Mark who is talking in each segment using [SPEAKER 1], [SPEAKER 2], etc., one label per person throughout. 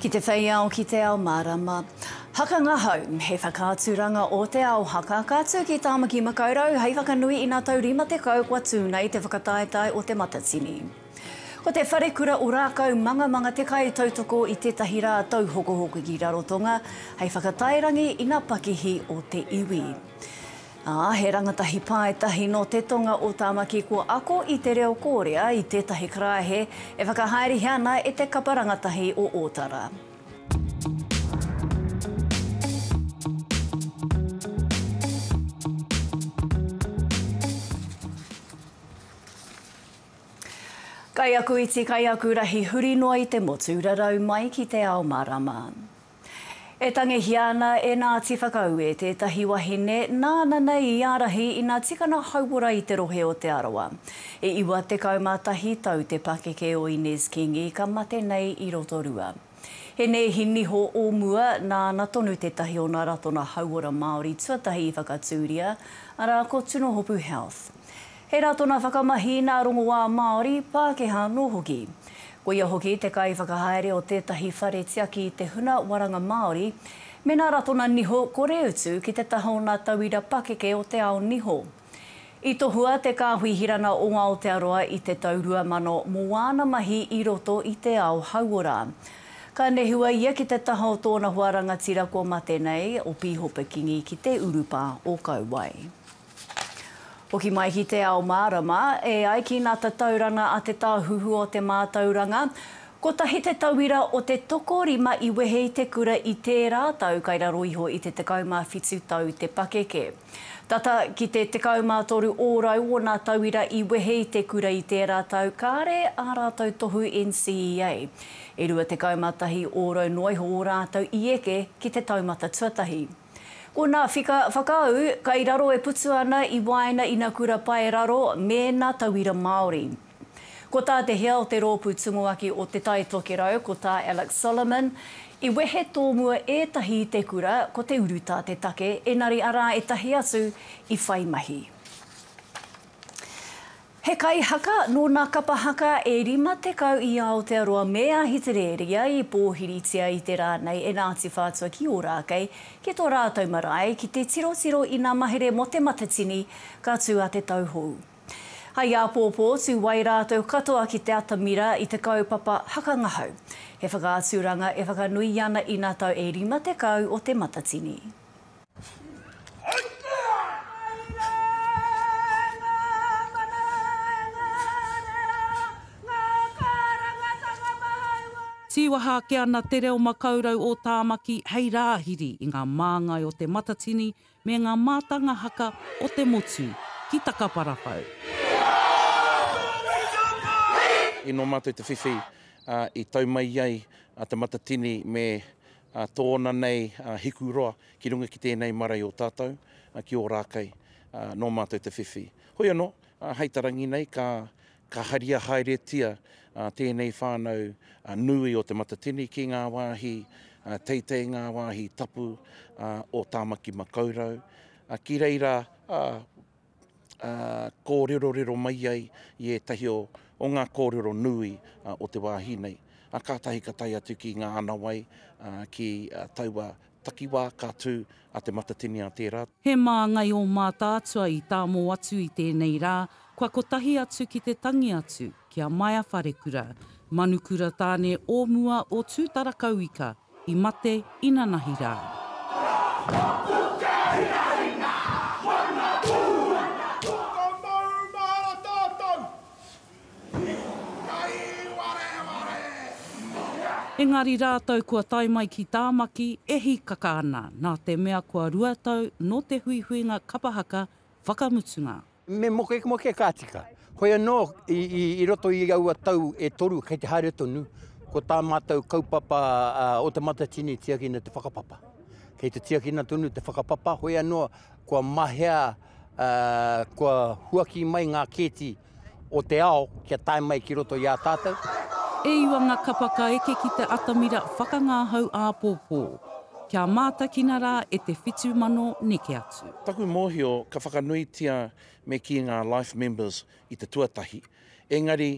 [SPEAKER 1] Ki te whei ao, ki te ao mārama. Haka ngahau, he whakaaturanga o Te Ao Haka, ka tū ki Tāmaki Makaurau hei whakanui i ngā tau 50 kua tū nei te whakataetae o Te Matatini. Ko te Wharekura o Rākau Mangamanga te kaitautoko i tētahi rā tauhokohoko ki Rarotonga hei whakataerangi i ngā pakihi o te iwi. Ā, he rangatahi paetahi nō te tonga o Tāmaki kua ako i te reo Kōrea i tētahi karaehe e whakahaerehia ana e te kapa rangatahi o Ōtara. Kaiakuiti, kaiakurahi huri noa i te motu, rarau mai ki te ao marama. E tangihia ana e Ngāti Whakaue tētahi wahine nāna nei i ārahi ina tikana hauora i te rohe o Te Arawa. E 91 tau te pakeke o Inez Kingi ka mate nei i Rotorua. He nēhi niho o mua, nāna tonu tētahi o ngā ratonga hauora Māori tuatahi i whakatūria, arā ko Tunohopu Health. He rā tōna whakamahi i nā rongoā Māori, Pākehā anō hoki. Ko ia hoki te kaiwhakahaere o tētahi whare tiaki i te huna waranga Māori. Mēnā rā tōna niho, kore utu ki te taha o nā tauira pakeke o te ao niho. I tohua te Kāhui Hirana o Aotearoa i te tau 2000 mō wāna mahi i roto i te ao hauora. Ka nehua ia ki te taha o tōna hoa rangatira kua mate nei, o Pīhopa Kingi ki te urupā o Kauae. Hoki mai ki Te Ao Mārama, e ai ki nā tatauranga a Te Tāhuhu o te Mātauranga, kotahi te tauira o te tokorima i wehe i te kura i tērā tau kai raro iho i te 17 tau te pakeke. Tata ki te 13 ōrau ōna tauira i wehe i te kura i tērā tau kāre ā rātou tohu NCEA, e 21 ōrau noa iho ō rātou i eke ki te taumata tuatahi. Ko nā whika whakaū, kai raro e putu ana i waena i na kura pae raro me na tauira Māori. Ko tā te hea o te rōpū Tumuaki o Te Tai Tokerau, ko tā Alex Solomon, i wehe tōmua ētahi i te kura, ko te urutā te take, enari arā etahi atu i whai mahi. He kaihaka nō nā kapa haka e 50 i Aotearoa me Ahitereria i pōhiritia i te rā nei e Ngāti Whātua ki Ōrākei ki tō rātou marae ki te tirotiro i ngā mahere mō Te Matatini ka tū a Te Tauhou hai āpōpō tū wai rātou katoa ki te atamira i te kaupapa haka ngahau. He whakaaturanga e whakanuia ana i nā tau e 50 o Te Matatini.
[SPEAKER 2] Tīwaha ake ana Te Reo Makaurau o Tāmaki hei rāhiri i ngā māngai o Te Matatini me ngā mātanga haka o te motu ki Takaparawhau.
[SPEAKER 3] Inō mātou te whiwhi i tau mai ai a Te Matatini me a tōna nei a Hikuroa ki runga ki tēnei marae o tātou, ki Ōrākei, a nō mātou te whiwhi. Hoi anō, hei ta rangi nei ka ka haria haeretia tēnei whānau nui o Te Matatini ki ngā wāhi teitei, ngā wāhi tapu o Tāmaki Makaurau, ki reira ā, kōrerorero mai ai i ētahi o, o ngā kōrero nui o te wāhi nei. Ā, kātahi ka tae atu ki ngā anawai, ā, ki taua takiwā ka tū a Te Matatini-a tērā. He māngai ō
[SPEAKER 2] Mātaatua i tāmō atu i tēnei rā, kua kotahi atu ki te tangi atu ki a Maia Wharekura, Manukura Tāne o mua o Tūtarakauika. i mate inanahi rā. Rā ka puta hinahi ngā whangapū. Ka maumahara tātou i ngāi wareware mōna. Engari rātou kua tae mai ki Tāmaki e hīkaka ana nā te mea kua rua tau nō te huihuinga kapa haka whakamutunga. Me mokemoke
[SPEAKER 4] ka tika. Hoi anō, i roto i aua tau e toru kei te haere tonu, ko tā mātou kaupapa o Te Matatini i tiakina te whakapapa. Kei te tiakina tonu te whakapapa, hoi anō, kua mahea, kua huaki mai ngā kēti o te ao kia tae mai ki roto i a tātou. E iwa nga
[SPEAKER 2] kapa ka eke ki te atamira whakangahau āpōpō. Kia mātakina rā e te whitu mano neke atu. Taku mōhio ka
[SPEAKER 3] whakanuitia me kī ngā Life Members i te tuatahi, engari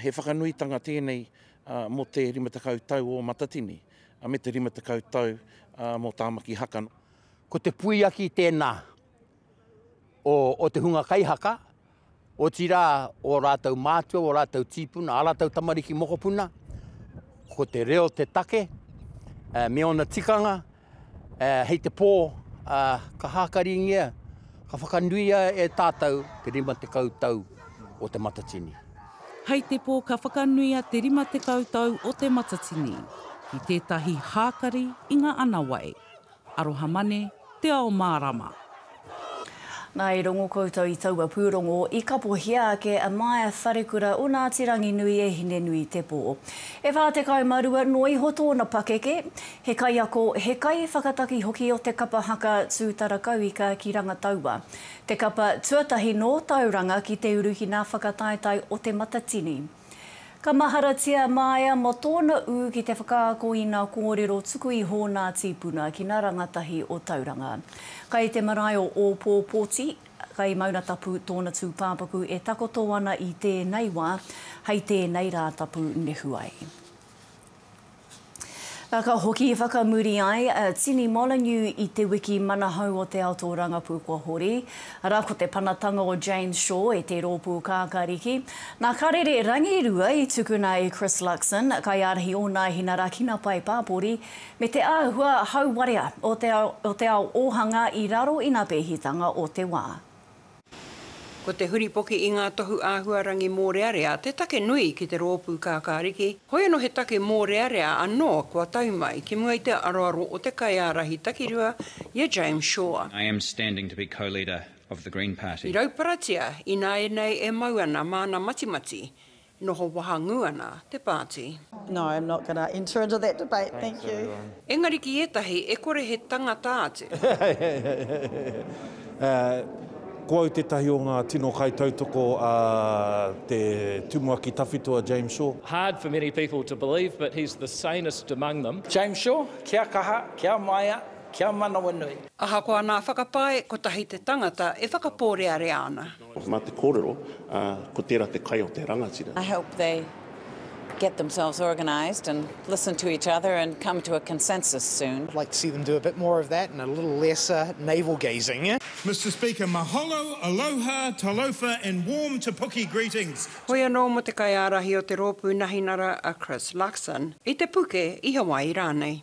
[SPEAKER 3] he whakanuitanga tēnei mō te 50 tau o Matatini me te 50 tau mō Tāmaki Haka. Ko te
[SPEAKER 4] puiaki tēnā o te hunga kaihaka. Otirā, ō rātou mātua, ō rātou tīpuna, ā rātou tamariki mokopuna, ko te reo te take me ōna tikanga, hei te pō ka hākaringia, ka whakanuia e tātou te 50 tau o Te Matatini. Hei te
[SPEAKER 2] pō ka whakanuia te 50 tau o Te Matatini, ki tētahi hākari i ngā anawai. Arohamane, Te Ao Mārama.
[SPEAKER 1] Nā, i rongo koutou i taua pūrongo, i kapohia ake a Maia Wharekura o Ngāti Ranginui e Hine-nui-te-pō. E whā tekau mā rua noa iho tōna pakeke, he kaiako, he kaiwhakataki hoki o te kapa haka Tūtara Kauika ki Rangataua, te kapa tuatahi nō Tauranga ki te uru ki ngā whakataetae o Te Matatini. Ka maharatia a Maia mō tōna ū ki te whakaako i nā kōrero tuku iho nā tīpuna ki nā rangatahi o Tauranga. Kai te marae o Ōpōpōti, kai Maungatapu tōna tūpāpaku e takoto ana i tēnei wā, hei tēnei Rātapu nehu ai. Ka hoki whakamuri ai a Tini Molyneux i te wiki manahau o te ato rangapū kua hori, arā ko te panatanga o Jane Shaw e te rōpū kākāriki. Nā Karere Rangirua i tukuna e Chris Luxon, kaiārahi ōna inarakinga pae pāpori, me te āhua hauwarea o te ao ōhanga i raro i ngā pēhitanga o te wā.
[SPEAKER 5] Ko te huripoki i ngā tohu āhuarangi mōrearea te take nui ki te rōpū kākāriki, hoi anō he take mōrearea anō kua tau mai ki mua i te aroaro o te kaiārahi takirua i a James Shaw. I am standing to be
[SPEAKER 6] co-leader of the Green Party. I rauparatia
[SPEAKER 5] ināianei e mau ana māna matimati Noho wahangū ana te pāti. No, I'm not going
[SPEAKER 7] to enter into that debate, thank you. Engari ki ētahi
[SPEAKER 5] e kore he tangata atu.
[SPEAKER 8] Ko au tētahi o ngā tino kaitautoko a te Tumuaki Tawhito a James Shaw. Hard for many people
[SPEAKER 9] to believe, but he's the sanest among them. James Shaw, kia
[SPEAKER 10] kaha, kia maea, kia manawanui. Ahakoa nā
[SPEAKER 5] whakapae, kotahi te tangata e whakapōrearea ana. Mā te kōrero,
[SPEAKER 11] ā, ko tērā te kai o te rangatira. I hope they
[SPEAKER 12] get themselves organised and listen to each other and come to a consensus soon. I'd like to see them do a bit
[SPEAKER 13] more of that and a little less navel gazing. Mister Speaker,
[SPEAKER 14] mahalo, aloha, talofa and warm Te Puke greetings to. Hoi anō mō te
[SPEAKER 5] kaiārahi o te rōpū Nahinara a Chris Luxon, i Te Puke, i Hawaii rānei.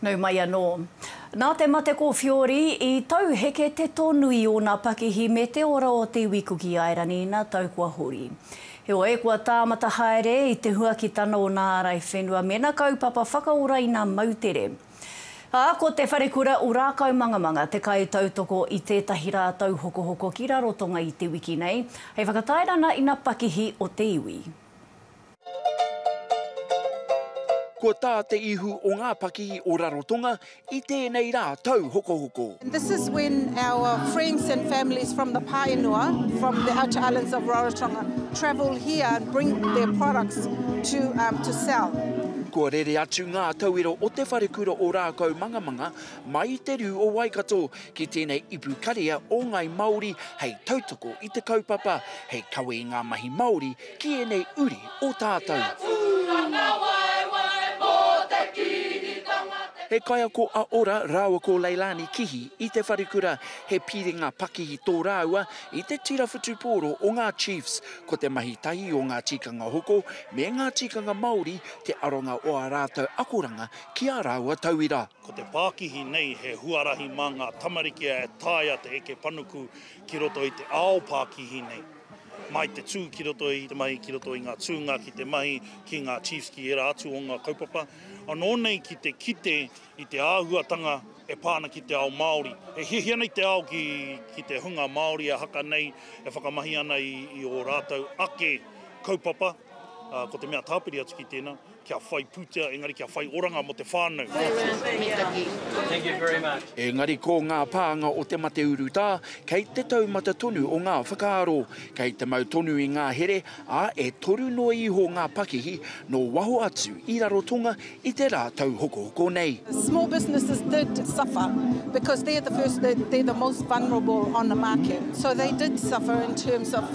[SPEAKER 1] Nau mai anō. Nā te mate ko Whiori, i tauheke te tonu i ōna pakihi me te ora o te iwi Kuki Airani ina tau kua hori. Heoi, kua tāmata haere i te huakitanga o nā ārai whenua mēnā kaupapa whakaora ina moutere. Ā, ko Te Wharekura o Rākaumangamanga te kaitautoko i tētahi rā tauhokohoko ki Rarotonga i te wiki nei, hei whakatairana ina pakihi o te iwi.
[SPEAKER 15] Ko tā te ihu o ngā pakihi o Rarotonga i tēnei rā tauhokohoko. This is when
[SPEAKER 16] our friends and families from the Paenua, from the outer islands of Rarotonga, travel here and bring their products to um, to sell. Kua
[SPEAKER 15] rere atu ngā tauiro o te wharekura o Rākau Mangamanga mai i te rū o Waikato ki tēnei ipu karea o Ngāi Māori hei tautoko i te kaupapa, hei kawe i ngā mahi Māori Ki ēnei uri o tātou. He kaiako a Ora rāua ko Leilani Kihi i te wharekura, he piringa pakihi tō rāua i te tira whutupōro o ngā Chiefs. Ko te mahi tahi o ngā tikanga hoko me ngā tikanga Māori te aronga o ā rātou akoranga ki ā rāua tauira. Ko te pākihi
[SPEAKER 14] nei he huarahi mā ngā tamariki e taea te eke panuku ki roto i te ao pākihi nei. Mai te tū ki roto i te mahi, ki roto i ngā tūnga ki te mahi, ki ngā chiefs, ki ērā atu o ngā kaupapa. Anō nei ki te kite i te āhuatanga e pā ana ki te ao Māori. E hiahia nei te ao ki te hunga Māori e haka nei, e whakamahi ana i ō rātou ake kaupapa, ko te mea tāpiri atu ki tēnā, Kia whai pūtea engari kia whai oranga mō te whānau.
[SPEAKER 6] Engari ko ngā
[SPEAKER 15] pānga o te mate urutā, kei te taumata tonu o ngā whakaaro, kei te mau tonu i ngā here, ā, e toru noa iho ngā pakihi nō waho atu i Rarotonga i te rā tauhokohoko nei. Small businesses
[SPEAKER 16] did suffer because they're the first, they're the most vulnerable on the market. So they did suffer in terms of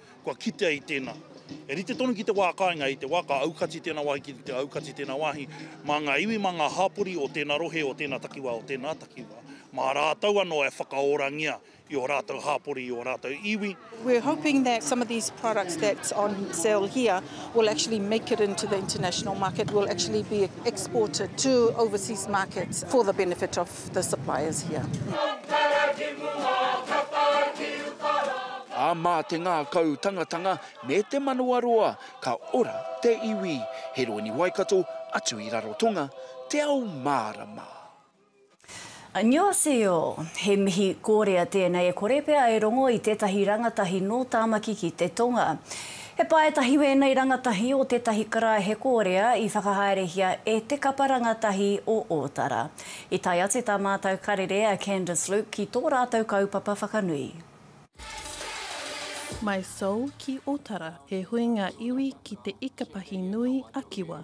[SPEAKER 14] Kua kitea i tēnā, e rite tonu ki te wā kāinga, i te wā ka aukati tēnā wāhi ki te aukati tēnā wāhi, mā ngā iwi, mā ngā hāpori o tēnā rohe, o tēnā takiwā, o tēnā takiwā, mā rātou anō e whakaorangia i ō rātou hāpori, i ō rātou iwi. We're hoping that
[SPEAKER 16] some of these products that's on sale here will actually make it into the international market, will actually be exported to overseas markets for the benefit of The supply is
[SPEAKER 15] here. Ā, mā te ngākau tangatanga me te manawaroa ka ora te iwi. He roini Waikato atu i Rarotonga, te ao mārama. Annyeonghaseyo!
[SPEAKER 1] He mihi kōrea tēnei e kore pea e rongo i tētahi rangatahi nō Tāmaki ki te Tonga. He paetahi wēnei rangatahi o tētahi karaehe kōrea i whakahaerehia e Te Kapa Rangatahi o Ōtara. I tae atu tā mātou karere a Candice Luke ki tō rātou kaupapa whakanui.
[SPEAKER 17] My Soul ki Otara, he huinga iwi ki te Ikapahi nui a Kiwa.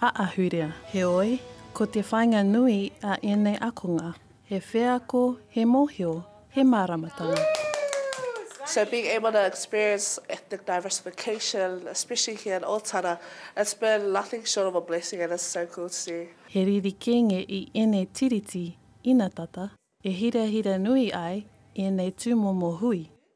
[SPEAKER 17] a ahurea. Heoi, ko te whainga nui a ēnei akonga, he wheako, he mohio, he māramatanga.
[SPEAKER 18] So being able to experience ethnic diversification, especially here in Otara, it's been nothing short of a blessing and it's so cool to see. He riri kenge
[SPEAKER 17] i ēnei tiriti ina tata e hirahira nui ai ēnei tūmomo hui.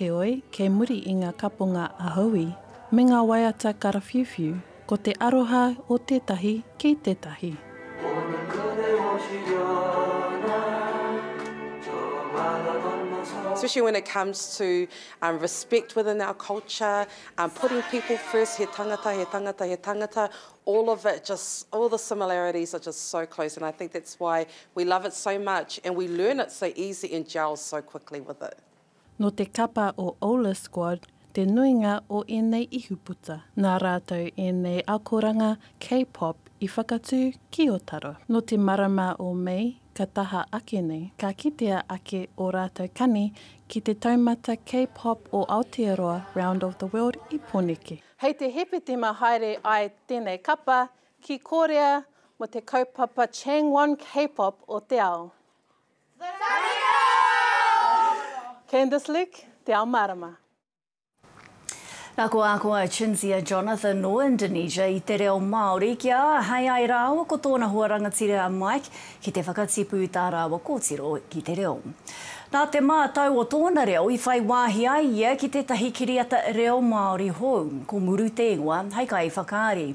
[SPEAKER 19] Heoi, kei
[SPEAKER 17] muri i ngā kaponga a Howie me ngā waiata karawhiuwhiu, ko te aroha o tētahi ki tētahi.
[SPEAKER 19] Especially when it comes to respect within our culture, putting people first, he tangata, he tangata, he tangata, all of it just, all the similarities are just so close and I think that's why we love it so much and we learn it so easy and gel so quickly with it. Nō te kapa
[SPEAKER 17] o Ola Squad te nuinga o ēnei ihuputa. Nā rātou ēnei akoranga K-pop i whakatū ki Otaro. Nō te marama o Mei ka taha ake nei, ka kitea ake ō rātou kani ki te taumata K-pop o Aotearoa Round of the World i Poneke. Hei te Hepetema haere ai tēnei kapa ki Kōrea mō te kaupapa Changwon K-pop o te ao. Candice Leck, Te Ao Marama.
[SPEAKER 1] Na ko a koa Cinzia Jonathan no Indonesia i te reo Maori ki a ahei ai raaua ko tona hoa rangatira a Mike ki te whakatipu i ta raaua kotiro ki te reo. Na te ma tau o tona reo i whai waahi ai ia ki tetahi kiriata reo Maori hou, ko Muru te ingoa, hei kai whakaari.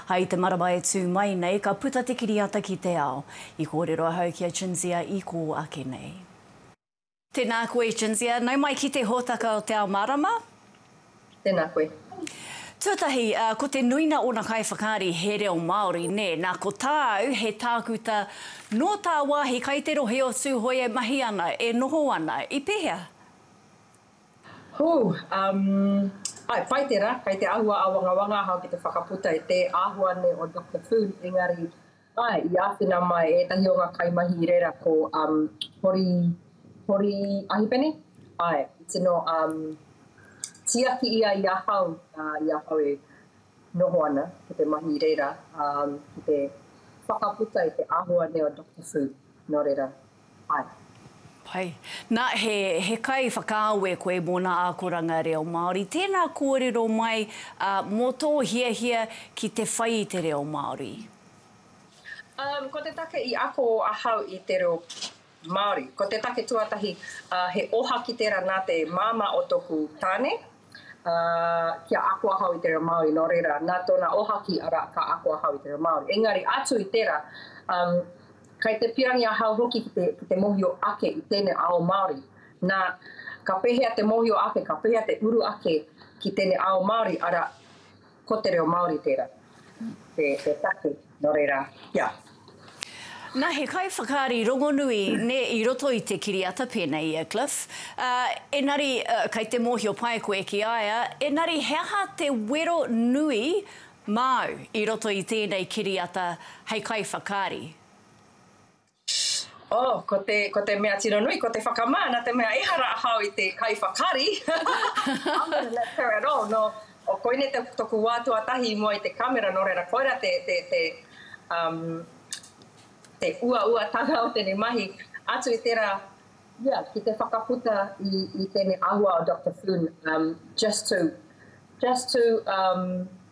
[SPEAKER 1] Hai te marama e tu mai nei ka puta te kiriata ki te ao. I kōrero ahau ki a Cinzia i kō ake nei. Tēnā koe Cinzia, nau mai ki te hōtaka o Te Ao Mārama. Tēnā
[SPEAKER 2] koe. Tuatahi,
[SPEAKER 1] ko te nuina ōna kaiwhakaari he reo Māori, nē, nā ko tāu he tākuta nō tāwāhi kai te rohe o Tūhoe e mahi ana, e noho ana, i pēhea? Hū, um,
[SPEAKER 2] āe, pai tērā, kei te āhua āwangawanga ahau ki te whakaputa i te āhua nei o Doctor Foon, engari, Āe, i āwhina mai ētahi o ngā kaimahi i reira ko um, Hori, Hori Ahipene, āe, i tino um, tiaki ia i ahau, uh, i ahau e noho ana ki te mahi i reira, um, ki te whakaputa i te āhua nei o Doctor Fu, nō reira. Pai. Pai.
[SPEAKER 1] Na, he, he kai whakaawe koe mō nā akoranga reo Māori. Tēnā kōrero mai uh, mō tō hiahia ki te whai i te reo Māori?
[SPEAKER 2] Um, ko te take i ako ahau i te reo Māori, ko te take tuatahi, uh, he oha ki tērā nā te māmā o tōku tāne, Ā, kia ako ahau i te reo Māori, nō reira, nā tōna ohaki, arā, ka ako ahau i te reo Māori. Engari, atu i tērā, ā, kei te pirangi ahau hoki ki te, ki te mōhio ake i tēnei ao Māori. Nā, ka pēhea te mōhio ake, ka pēhea te uru ake ki tēnei ao Māori, arā, Ko te reo Māori tērā, te take, nō reira, kia.
[SPEAKER 1] Nā, he kaiwhakaari rongonui, nē, i roto i te kiriata pēnei i a Cliff, ā, engari, kei te mōhio pai koe ki a ia, engari he aha te wero nui māu i roto i tēnei kiriata hei kaiwhakaari?
[SPEAKER 2] Oh, ko te, ko te mea tino nui, ko te whakamā, nā te mea ehara ahau i te kaiwhakari, I'm gonna let her at all, nō, oh, koinei te, toku wā tuatahi i mua i te kamera, nō reira, koirā te, te, te, um, te uauatanga o tēnei mahi, atu i tērā, ia, ki te whakaputa i, i tēnei awa o Doctor Flynn, um, just to, just to, um,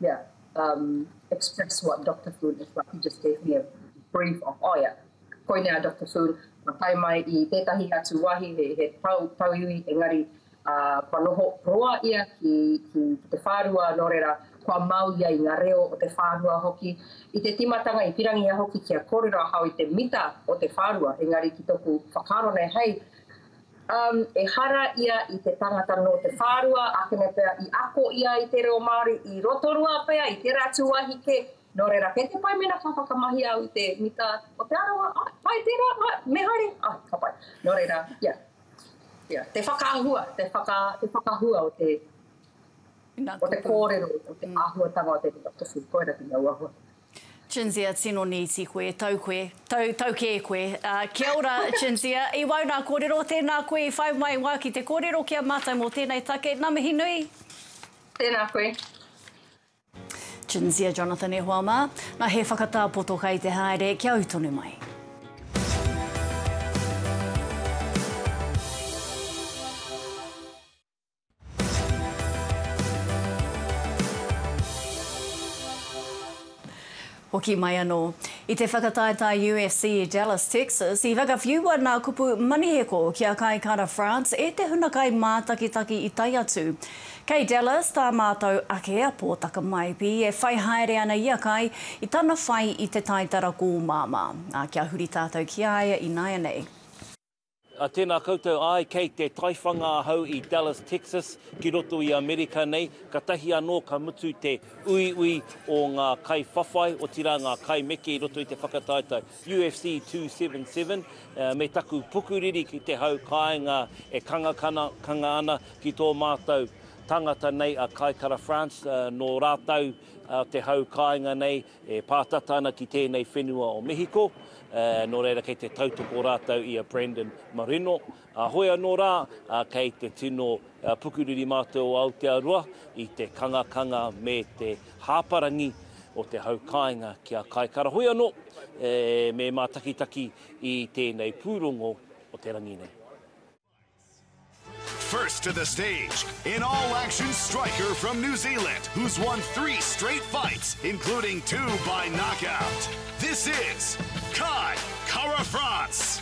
[SPEAKER 2] Yeah, um, express what Doctor Foon is like. He just gave me a brief of, oh yeah, koinei a Doctor Foon, ka tae mai i tētahi atu wāhi, he, he tau, tau iwi, engari, uh, kua noho roa ia ki, ki, ki te whārua, nō reira, kua mau ia i ngā reo o te whārua hoki. I te timatanga, i pirangia hoki kia kōrero ahau i te mita o te whārua, engari ki toku whakaaro nei, hei, Um, ehara ia i te tangata nō te whārua, ākene pea i ako ia i te reo Māori i Rotorua pea, i tērā atu wāhi kē. Nō reira, kei te pai mēnā ka whakamahi au i te mita o Te Arawa, ai, pai tērā, ai, me haere, ai, ka pai. Nō reira, ia, ia, te whakaahua, te, whaka, te whakahua o te, o te kōrero, o te āhuatanga o te mita tofu, koirā te auahua. Cinzia,
[SPEAKER 1] Tino nīti koe, tau koe, tau, tau kē koe. Ā, kia ora, Cinzia. I wau nā kōrero, tēnā koe i whai mai wā ki te kōrero ki a mātou mō tēnei take. Nā mihi nui. Tēnā
[SPEAKER 2] koe. Cinzia
[SPEAKER 1] Jonathan E hoa mā. Nā, he whakatā poto kai te haere, kia ū tonu mai. Hoki mai anō. I te whakataetae UFC i Dallas, Texas, i whakawhiua nā kupu Maniheko ki a Kai Kara France e te hunakai mātakitaki i tae atu. Kei Dallas tā mātou ake a Pōtaka Maipi e whai haere ana i a Kai i tana whai i te taitara kōmāmā, ā, kia huri tātou ki a ia ināianei.
[SPEAKER 3] Tēnā koutou, āe, kei te taiwhanga ahau i Dallas, Texas, ki roto i Amerika nei, katahi anō ka mutu te uiui o ngā kaiwhawhai, otirā ngā kaimeke i roto i te whakataetae UFC 277, me taku pukuriri ki te hau kāinga e kangakanga ana ki tō mātou tangata nei a Kai Kara France, nō rātou te hau kāinga nei, E pātata ana ki tēnei whenua o Mehiko, nō reira kei te tautoko rātou i a Brandon Marino. Hoi anō rā, kei te tino pukuriri mātou o Aotearoa i te kangakanga me te hāparangi o te hau kāinga ki a Kaikara. Hoi anō, me mātakitaki i tēnei pūrongo o te rangi nei.
[SPEAKER 4] First to the stage, in all action striker from New Zealand, who's won three straight fights, including two by knockout. This is Kai Kara France.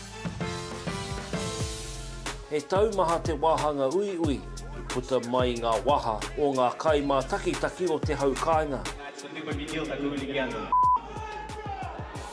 [SPEAKER 3] He taumaha te wāhanga uiui i puta mai i ngā waha o ngā kai mātakitaki o te hau kāinga.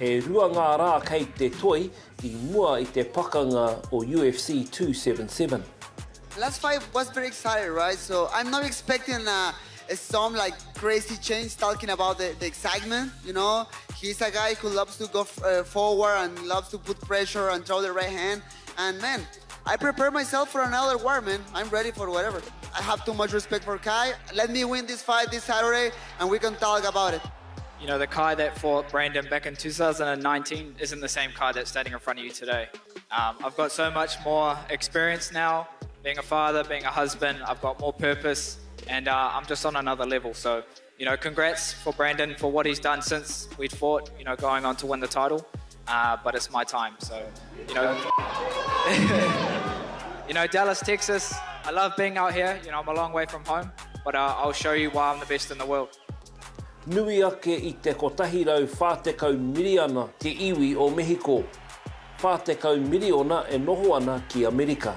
[SPEAKER 20] E
[SPEAKER 3] rua ngā rā kei te toi i mua i te pakanga o UFC 277. Last
[SPEAKER 21] fight was pretty excited right so I'm not expecting a a some like crazy change talking about the the excitement you know he's a guy who loves to go forward and loves to put pressure and throw the right hand and man I prepare myself for another war man I'm ready for whatever I have too much respect for Kai let me win this fight this Saturday and we can talk about it You know the Kai that
[SPEAKER 20] fought Brandon back in 2019 isn't the same Kai that's standing in front of you today um, I've got so much more experience now being a father being a husband I've got more purpose and uh, I'm just on another level so You know congrats for Brandon for what he's done since we'd fought you know going on to win the title uh, but it's my time so you know you know Dallas Texas I love being out here you know I'm a long way from home but uh, I'll show you why I'm the best in the world. Nui
[SPEAKER 3] ake i te 140 miriana te iwi o Mehiko, 40 miriona e noho ana ki Amerika.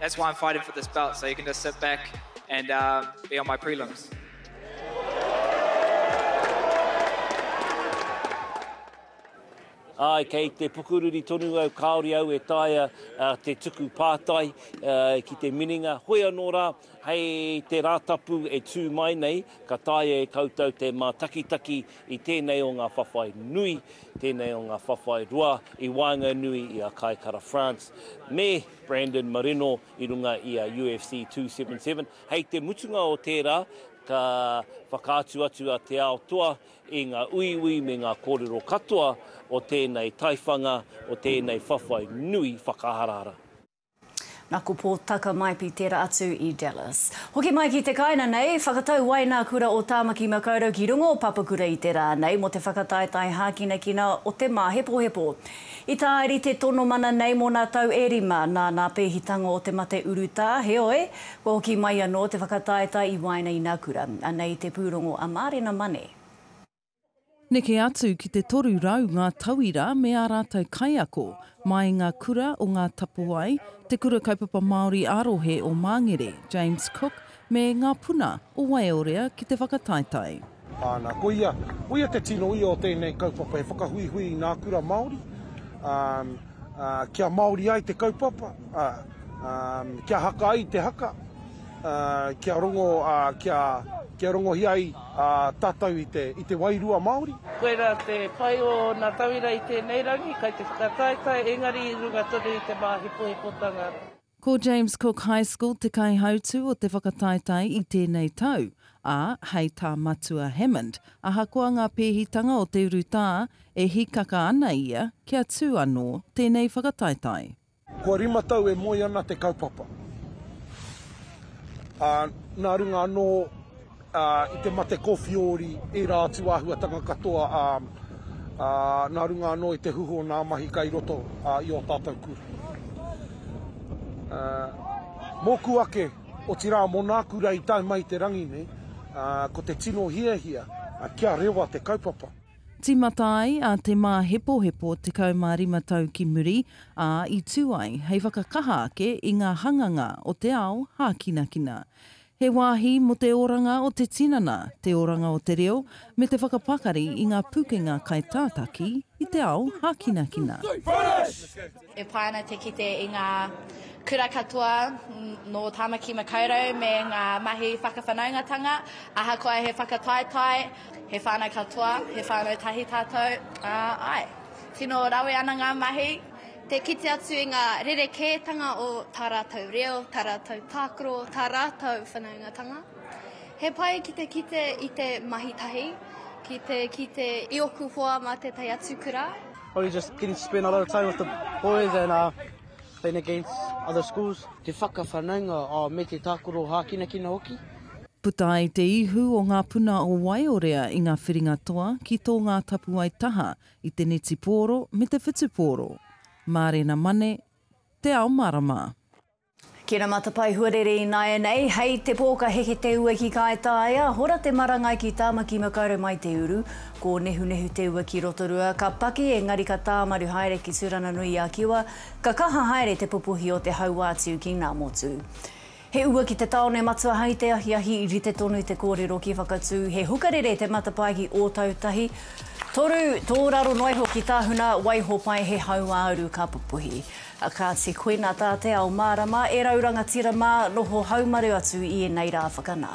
[SPEAKER 20] That's why I'm fighting for this belt, so you can just sit back and uh, be on my prelims.
[SPEAKER 3] Ai, kei te pukururi tonu au, kāori au e taia uh, te tuku pātai uh, ki te mininga. Hoi anō rā, hei te rātapu e tū mai nei, ka taia e koutou te mātakitaki i tēnei o ngā whawhai nui, tēnei o ngā whawhai roa i waenganui i a Kaikara France. Me Brandon Marino i runga i a UFC 277. Hei te mutunga o tērā, ka whakaatu atu a Te Ao Toa i ngā uiui me ngā kōrero katoa o tēnei taiwhanga, o tēnei whawhai nui whakaharahara. Na
[SPEAKER 1] ko Paul Tucker mai pi tera atu i Dallas. Hoki mai ki te kaina nei, whakatau wai na kura o Tamaki Makaurau ki runga o Papakura i te ra nei mo te whakataetae hakinakina o te mahepohepo. I tāiri te tono mana nei mōna tau e rima, nā nā pēhitanga o te mate urutā, heoi, kua hoki mai anō te whakataetae i waenga i nā kura. Anei te pūrongo a Mārena Mane.
[SPEAKER 8] Neke atu ki te 300 ngā tauira me ā rātou kaiako, mai i ngā kura o Ngā Tapuwae, Te Kura Kaupapa Māori ā-rohe o Māngere, James Cook, Me ngā puna o Waiorea ki te whakataetae. Ana, koia,
[SPEAKER 10] koia te tino ia o tēnei kaupapa, he whakahuihui i ngā kura Māori, ā, ā, kia Māori ai te kaupapa, ā, ā, kia haka ai te haka, ā, kia rongo, ā, kia, kia rongohia ai, ā, tātou i te, i te wairua Māori. Koirā te
[SPEAKER 11] pai o ngā tauira i tēnei rangi, kai te whakataetae, engari i runga tonu i te māhekohekotanga. Ko James
[SPEAKER 8] Cook High School te kaihautū o te whakataetae i tēnei tau, ā, hei tā Matua Hammond, ahakoa ngā pēhitanga o te urutā, e hīkaka ana ia kia tū anō tēnei whakataetae. Kua rima
[SPEAKER 10] tau e moe ana te kaupapa, ā, nā runga anō. I te mate kōwhiori ērā atu āhuatanga katoa nā runga anō i te huhu o nā mahi kai roto i ō tātou kura. Mōku ake, otirā mō nā kura i tae mai i te rangi nei, ko te tino hiahia kia rewa te kaupapa. Tīmata ai
[SPEAKER 8] a Te Māhepohepo 15 tau ki muri, ā, i tū ai hei whakakaha ake i ngā hanganga o te ao hākinakina. He wāhi mō te oranga o te tinana, te oranga o te reo, me te whakapakari i ngā pukenga kai tātaki i te ao hākinakina.
[SPEAKER 22] E pai ana te kite i ngā kura katoa nō Tāmaki Makaurau me ngā mahi whakawhanaungatanga, ahakoa he whakataetae, he whānau katoa, he whānau tahi tātou, ā, āe. Tino rawe ana ngā mahi. Te kite atu i ngā rerekētanga o tā rātou reo, tā rātou tākaro, tā rātou whanaungatanga. He pai ki te kite i te mahi tahi, ki te kite i oku hoa mā tētahi atu kura. Probably just getting to
[SPEAKER 11] spend a lot of time with the boys and uh, playing against other schools. Te whakawhanaunga oh, me te tākaro hākinakina hoki. Puta ai
[SPEAKER 8] te ihu o ngā puna o Waiorea i ngā whiringa toa ki tō ngā tapuwae taha i te netipōro me te whutupōro, mārena mane, te ao marama. Kina
[SPEAKER 1] matapae huarere ināianei, hei te pō ka heke te ua ki Kaitaia, hora te marangai ki Tāmaki Makaurau mai te uru, kōnehunehu te ua ki Rotorua, ka paki engari ka tāmaru haere ki Turanganui-a-Kiwa, ka kaha haere te pupuhi o te hauātiu ki Ngāmotu. He ua ki te taone matua hai te ahiahi rite tonu te korero ki Whakatū he hukarere te matapae ki Ōtautahi toru tō raro noa iho ki Tahuna waiho pai he hauāuru ka pupuhi kāti koina tā te ao mārama e rau rangatira mā noho haumaru atu i enei rā whakanā.